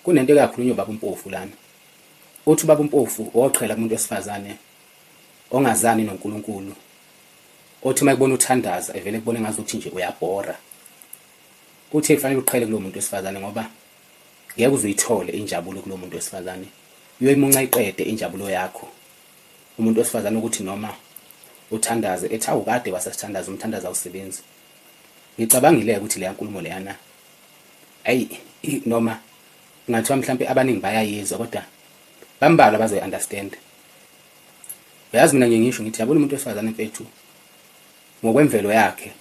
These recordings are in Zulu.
Kunento eyakhulunywa ubaba uMpofu lana. Uthi ubaba uMpofu woqhela kumuntu wesifazane ongazani noNkulunkulu. Othi uma ekubona uthandaza evele kubone ngazuthi nje uyabhora. Uthi kufanele uqhele kulo muntu wesifazane ngoba ngeke uzuyithole injabulo kulo muntu wesifazane. Uyoyimunca iqede injabulo yakho. Umuntu wesifazane ukuthi noma uthandaze ethi awukade wasesithandaza umthandaza awusebenzi. Ngicabangile ukuthi leya nkulumo leyana ayi noma ngathiwa mhlawumbe abaningi bayayizwa kodwa bambalwa bazoyi-understand uyazi mina ngiye ngisho ngithi yabona umuntu wesifazane mfethu ngokwemvelo yakhe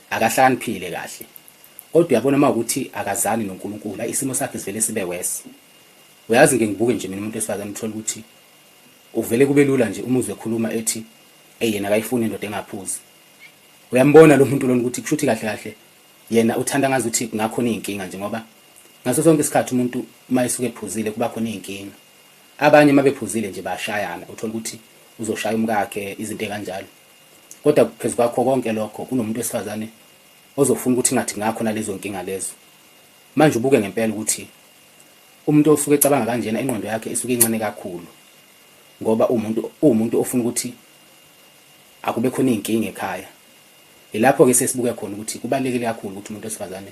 akahlaniphile kahle kodwa uyabona uma ukuthi akazani nonkulunkulu ayi isimo sakhe sivele sibe wesi uyazi ngike ngibuke nje mina umuntu wesifazane uthole ukuthi uvele kube lula nje umuzwe ekhuluma ethi eyena akayifuni indoda engaphuzi uyambona lo muntu lona ukuthi kushuthi kahle kahle yena uthanda ngazuthi kungakhona izinkinga nje ngoba ngaso sonke isikhathi umuntu uma esuke ephuzile kuba khona izinkinga abanye uma bephuzile nje bashayana uthola ukuthi uzoshaya umkakhe izinto ekanjalo kodwa phezu kwakho konke lokho kunomuntu wesifazane ozofuna ukuthi ngathi ngakho nalezo nkinga lezo manje ubuke ngempela ukuthi umuntu osuke ecabanga kanjena ingqondo yakhe isuke incane kakhulu ngoba umuntu umuntu ofuna ukuthi akube khona izinkinga ekhaya Yilapho ke siye sibuke khona ukuthi kubalulekile kakhulu ukuthi umuntu wesifazane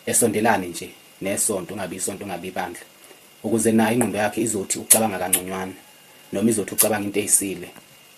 esondelane nje nesonto, ungabi isonto, ungabi ibandla, ukuze nayo ingqondo yakhe izothi ucabanga kangconywana noma izothi ucabanga into eyisile.